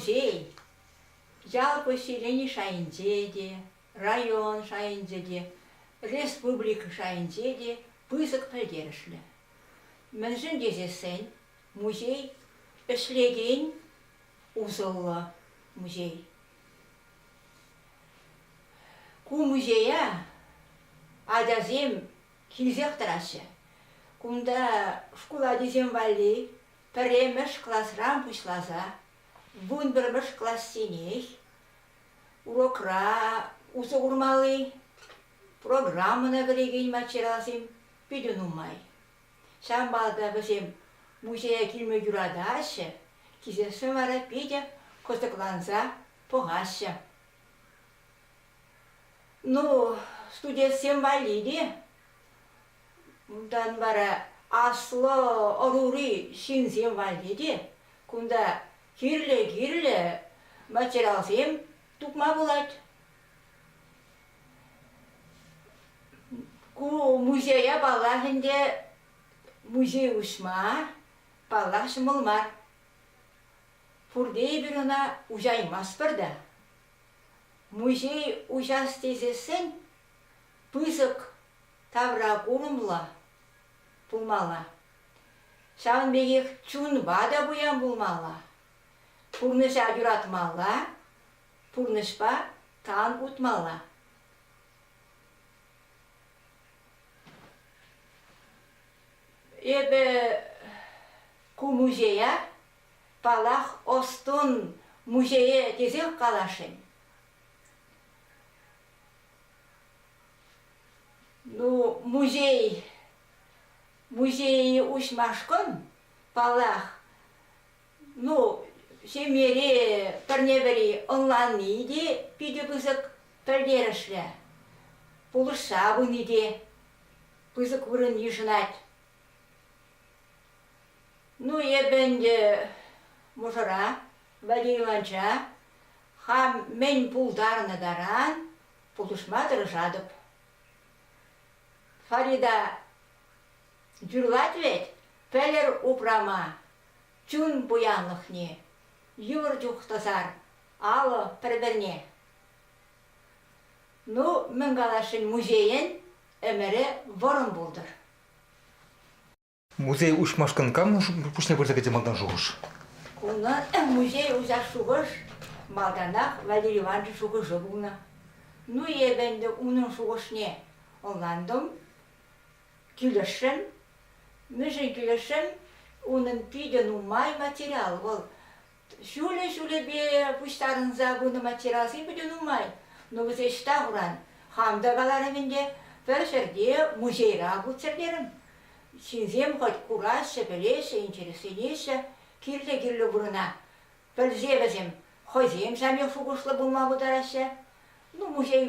музей ял поселени шайӗнче те, район шайӗнче те, республика шайӗнче те пысӑк пӗлтерӗшлӗ. Мӗншӗн тесессӗн музей ӗҫлекен усӑллӑ музей. Ку музея ачасем килсех тӑраҫҫӗ. Кунта шкул ачисем валли пӗрремӗш класран пуҫласа вунпӗрмӗш классенех урокра усӑ курмалли программӑна кӗрекен материалсем питӗ нумай. Ҫавӑнпа та вӗсем музее килме юратаҫҫӗ, килсессӗн вара питӗ кӑсӑкланса пӑхаҫҫӗ. Ну, студентсем валли те унтан вара аслӑ ӑрури ҫынсем валли те кунта кирлӗ-кирлӗ материалсем тупма пулать. Ку музея, паллах, ӗнтӗ музей уҫма, паллах, ҫӑмӑл мар. Пурте эпир ӑна уҫаймастпӑр та. Музей уҫас тесессӗн пысӑк тавра курӑмлӑ пулмалла. Ҫавӑн пекех чунпа та пуян пулмалла, пурнӑҫа юратмалла, Пурнӑҫпа тан утмалла. Эпӗ ку музея, паллах, ӑс-тӑн музейӗ тесех каласшӑн. Ну, музей, музейе уҫмашкӑн, паллах, ну, ҫемьере пӗрне-пӗри ӑнланни те питӗ пысӑк пӗлтерӗшлӗ. Пулӑшса пыни те пысӑк вырӑн йышӑнать. Ну, эпӗ ӗнтӗ мӑшӑра, Владимир Ивановича, хам мӗн пултарнӑ таран пулӑшма тӑрӑшатӑп. Фарида юрлать вӗт, пӗлӗр упрама, чун пуянлӑхне, йывӑр чух тӑсар алӑ пӗр-пӗрне. Ну, мӗн каласшӑн, музейӗн ӗмӗрӗ вӑрӑм пултӑр. Музей уҫмашкӑн кам пуҫне пырса кӗтсе малтан шухӑш? Унӑн музей уҫас шухӑш малтанах Валерий Иванович шухӑшӗ пулнӑ. Ну, эпӗ ӗнтӗ унӑн шухӑшне ӑнлантӑм. Килӗшрӗм. Мӗншӗн килӗшрӗм? Унӑн питӗ нумай материал. Вӑл ҫулӗ-ҫулӗпе пуҫтарӑнса пынӑ материалсем питӗ нумай. Ну, вӗсем ӑҫта хуран? Хам та каларӑм ӗнтӗ, пӗр ҫӗрте музейра путсӗр терӗм. Ҫынсем хӑть кураҫҫӗ, пӗлеҫҫӗ, интересленеҫҫӗ. Кирлӗ-кирлӗ вырӑна пӗлсе вӗсем хӑйсем самих шухӑшлӑ пулма пултараҫҫӗ. Ну, музей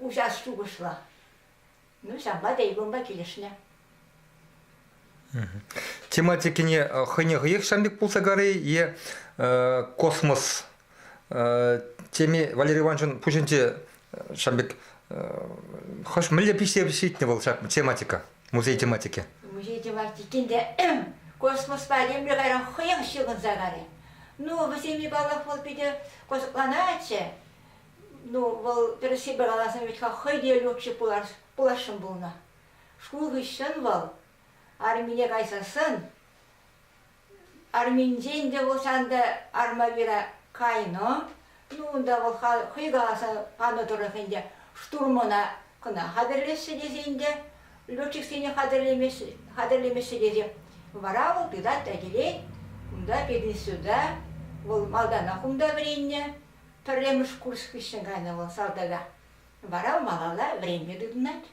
уҫас шухӑшлӑ. Ну, ҫапла тейблонпа килӗшнӗ. Тематикине э, хӑйне хӑех ҫам пек пулса карӗ е э, космос э, теме Валерий Ивановичӑн пуҫӗнче ҫам пек хӑш мӗнле пиҫсе ҫитнӗ вӑл ҫак тематика музей тематики? Музей тематикин те космоспа темле кайран хӑех ҫыхӑнса карӗ. Ну, вӗсене паллах вӑл питӗ кӑсӑкланатчӗ. Ну, вӑл тӗрӗссипе каласан вӗт-ха хӑй те легче пулас, пуласшӑн пулнӑ. Шкул хыҫҫӑн вӑл армине кайсассӑн, арминчен те пулсан та армавира кайнӑ, ну унта вӑл хӑй каласан панӑ тӑрӑх ӗнтӗ штурмана кӑна хатӗрлеҫҫӗ тесен те, летчиксене хатӗрлемеҫҫӗ тесе, вара вӑл тытать та килет, кунта, пединститута, вӑл малтанах унта вӗреннӗ, Пӗрремӗш курс хыҫҫӑн кайнӑ вӑл салтака. Вара малалла вӗренме тытӑнать.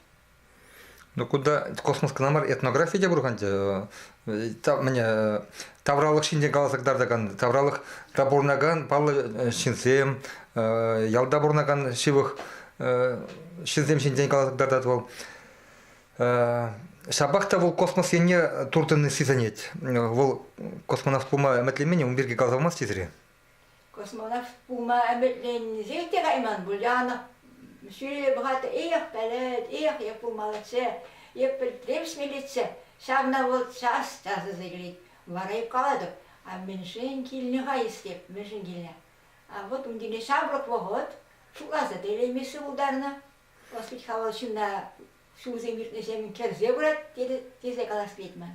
Ну кунта космос кӑна мар, этнографи те пур-ха ӗнтӗ. Мӗне тавралӑх ҫинчен каласа кӑтартакан, тавралӑх та пурӑнакан паллӑ ҫынсем, ялта пурӑнакан ҫывӑх ҫынсем ҫинчен каласа кӑтартать вӑл. Ҫапах та вӑл космос енне туртӑнни сисӗнет. Вӑл космонавт пулма ӗмӗтленмен, ун пирки каласа памасть тесре? космонавт пулма ӗмӗтленсе те кайман Буляна. Сӳре бухгалтер иех пӗлет, иех эп пулмаллаччӗ, эп пӗлтермӗш милици. Ҫавна вӑл час-часах илет. Вара эп калатӑп, а мӗншӗн килнӗ-ха эскеп, мӗншӗн килнӗ? А вот унтине ҫамрӑк вӑхӑт шутласа та илеймессе пултарнӑ. Ӑс пит хавал ҫынна ҫулсем иртнӗҫемӗн кӗрсе пырать тесе калас килет ман.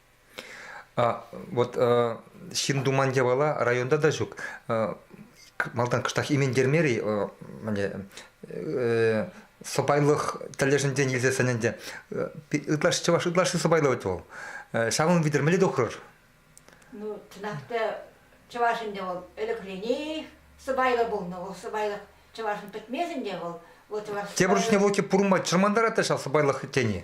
Вот ҫын туман япала районта та ҫук. Малтан кӑштах иментермер-и сӑпайлӑх тӗллешӗнчен илсе сӗн ӗнтӗ. Ытлашши чӑваш ытлашши сӑпайлӑ вӗт вӑл. Ҫавӑн витӗрмелле тухрӑр. Ну, чӑнах та чӑваш ӗнтӗ вӑл ӗлӗкренех сӑпайлӑ пулнӑ. Вӑл сӑпайлӑх чӑвашӑн пӗтмесӗн те вӑл. вӑл чӑваш Тепӗр чухне вӑл пурӑнма чӑрмантарать та ҫав сӑпайлӑх тени.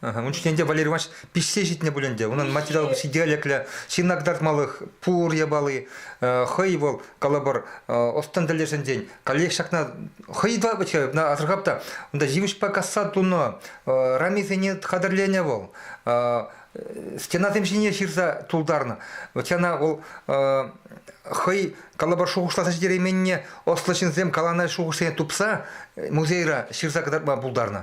Ун чухне ӗнтӗ Валерий Иванович пиҫсе ҫитнӗ пуль ӗнтӗ. Унӑн материал интеллектлӗ ҫынна кӑтартмалӑх пур япали хӑй вӑл калӑпӑр ӑс-тӑн тӗлӗшӗнчен каллех ҫакна хӑй асӑрхап та унта ҫимӗҫпа касса тунӑ рамисене хатӗрленӗ вӑл стенасем ҫине ҫырса тултарнӑ вӑт ҫавна вӑл хӑй калӑпӑр шухӑшласа ҫитерейменне ӑслӑ ҫынсем каланӑ шухӑшсене тупса музейра ҫырса кӑтартма пултарнӑ.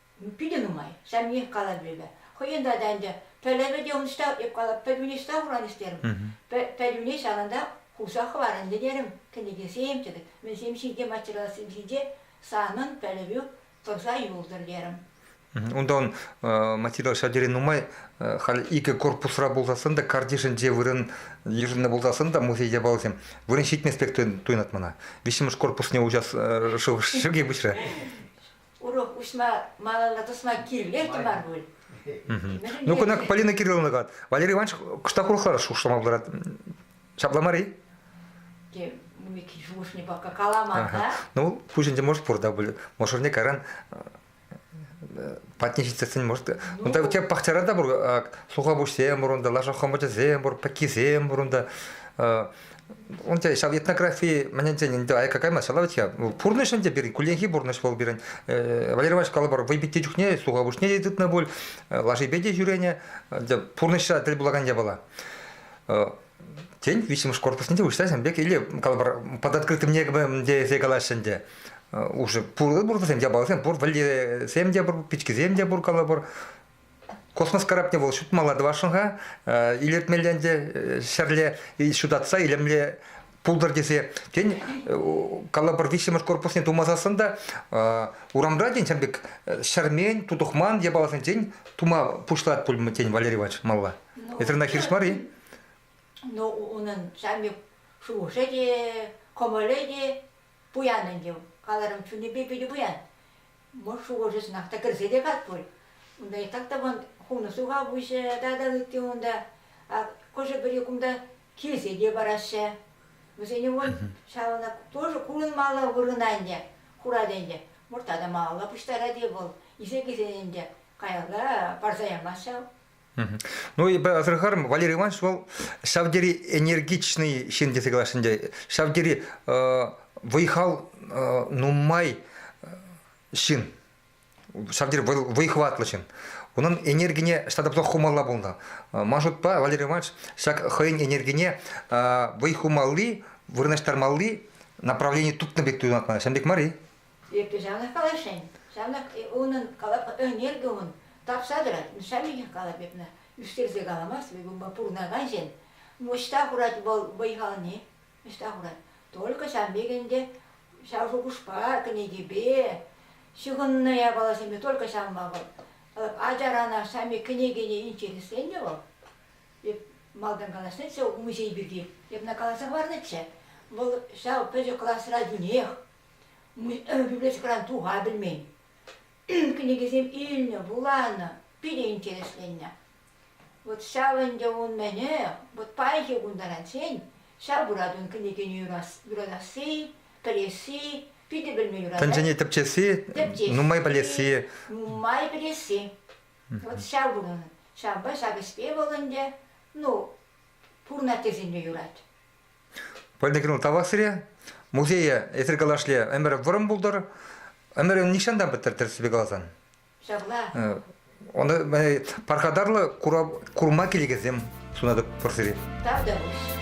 питӗ нумай. Ҫемьех калатӑп эпӗ. Хӑйӗн тата ӗнтӗ пӗлӗвӗ те ӑнӑҫта, эп калап, пӗтӗмӗнех ҫырса хуранӗҫ терӗм. Пӗтӗмне ҫавӑнта хурса хӑварӑнчӗ терӗм. Кӗнекесем тетӗп, мӗнсем ҫинче, материалсем ҫинче санӑн пӗлӗвӳ тӑрса юлтӑр терӗм. Унтан материал ҫав тери нумай. Халь икӗ корпусра пулсассӑн та, картишӗнче вырӑн йышӑннӑ пулсассӑн та музей япалисем вырӑн ҫитмест пек туйӑнать мана. Виҫҫӗмӗш корпусне уҫас шыв шӗке пуҫрӗ. урок уҫма малалла тӑсма кирлех мар пуль. Ну, кунах Полина Кирилловна калать, Валерий Иванович кӑштах урӑхла шушлама пултарать. Ҫапла мар-и? Мы шухӑшне пока каламан, да? Ну, пуҫ ӗнтӗ может пур да мӑшӑрне кайран патне ҫитсен может унта у тебя пахчара та пур суха пуҫсем пур унта лаша хомочасем пур пӗккисем пур унта Унте ҫав этнографи мӗнӗнчен ӗнтӗ аякка каймасть ҫала вӗт-ха. Пурнӑҫ ӗнтӗ пирӗн, кулленхи пурнӑҫ вӑл пирӗн. Э, Валерий Иванович калӑпӑр вӑй питти чухне слуховушне те тытнӑ пуль, э, лашипе те ҫӳренӗ. Пурнӑҫра тӗл пулакан япала. Э, тен, виҫҫӗмӗш корпусне те уҫса сен пек или калӑпӑр под открытым небом тесе калаҫҫӗ ӗнтӗ. Уже пур пуртӑсем те палӑрсем пур, вӗллесем те пур, пичкисем те пур калӑпӑр. Космос карапне вӑл ҫутмала тӑвасшӑн-ха, илӗртмелле ӗнтӗ ҫӗрле ҫутатса илемле пултӑр тесе. Тен, калӑпӑр виҫҫӗмӗш корпусне тума сассӑн та урамра, тен, ҫав пек ҫӗрмен, тутӑхман япаласенчен тума пуҫлать пуль, тен, Валерий Иванович малла. Эсир ӑна хирӗҫ мар-и? Ну, унӑн самих шухӑшӗ те, кӑмӑлӗ те пуян ӗнтӗ. Каларӑм чунӗпе питӗ пуян. мӑш шухӑшӑсынах та кӗрсе те кать пуль. Унта так тӑван хумлӑ суха пуҫӗ тата ытти унта. Хӑшӗ-пӗри кунта килсе те параҫҫӗ. Вӗсене вон ҫавна тоже курӑнмалла вырӑна ӗнтӗ, хурать ӗнтӗ. Мӑрта та малалла пуҫтарать-и вӑл, ise килсен ӗнтӗ каялла парса ямасть ҫав. Ну, асӑрхарӑм, Валерий Иванович вӑл ҫав тери энергичный ҫын тесе калаҫҫӗ ӗнтӗ. Ҫав тери вӑй-хал нумай ҫын, ҫав тери вӑй-хӑватлӑ ҫын. Унӑн энергине ҫата тупса хумалла пулнӑ. Ман шутпа, Валерий Иванович, ҫак хӑйӗн энергине вӑй хумалли, вырнаҫтармалли направлени тупнӑ пек туйӑнатман. Ҫавӑн пек мар-и? Эпӗ ҫавнах каласшӑн, ҫавнах унӑн ӗнертӗмӗн тапса тӑрать, шамикӗ калать эпне, ӳстерсе каламасть вӗт унпа пурӑнакан ҫын. Ӑҫта хурать вӑл вӑй-халне, ӑҫта хурать? Только шамик ӗнтӗ ҫав шухӑшпа, кӗнекепе, ҫыхӑннӑ япаласемпе только ҫанма вӑл. Ачарана шамик кӗнекене интересленнӗ вӑл. Эп малтан каласшӑнччӗ музей пирки, эпне каласа хӑварнӑччӗ. Вӑл ҫав пӗчӗк класра тӳнех библиотекӑран туха пӗлмен. Кӗнекесем илнӗ, вуланӑ, питӗ интересленнӗ. Вот ҫав ӗнтӗ ун мӗнӗ, вот паянхи кун таранччен ҫав пырать ун кӗнекене юратасси, пӗлесси, питӗ пӗлме юратать. Тӗнчене тӗпчесси, нумай пӗлесси. Нумай пӗлесси. Вот ҫав вырӑн. Ҫавӑнпа ҫак ӗҫпе вӑл ӗнтӗ, ну, пур наттесен те юрать. пӗлнӗ кӑмӑл тавах музее эсир калашле ӗмӗр вӑрӑм пултӑр ӗмӗр нихҫан та пӗттӗр тӗрӗссипе каласан ҫапла оны пархатарлӑ курма килекенсем сунатӑп пур сире тавтапуҫ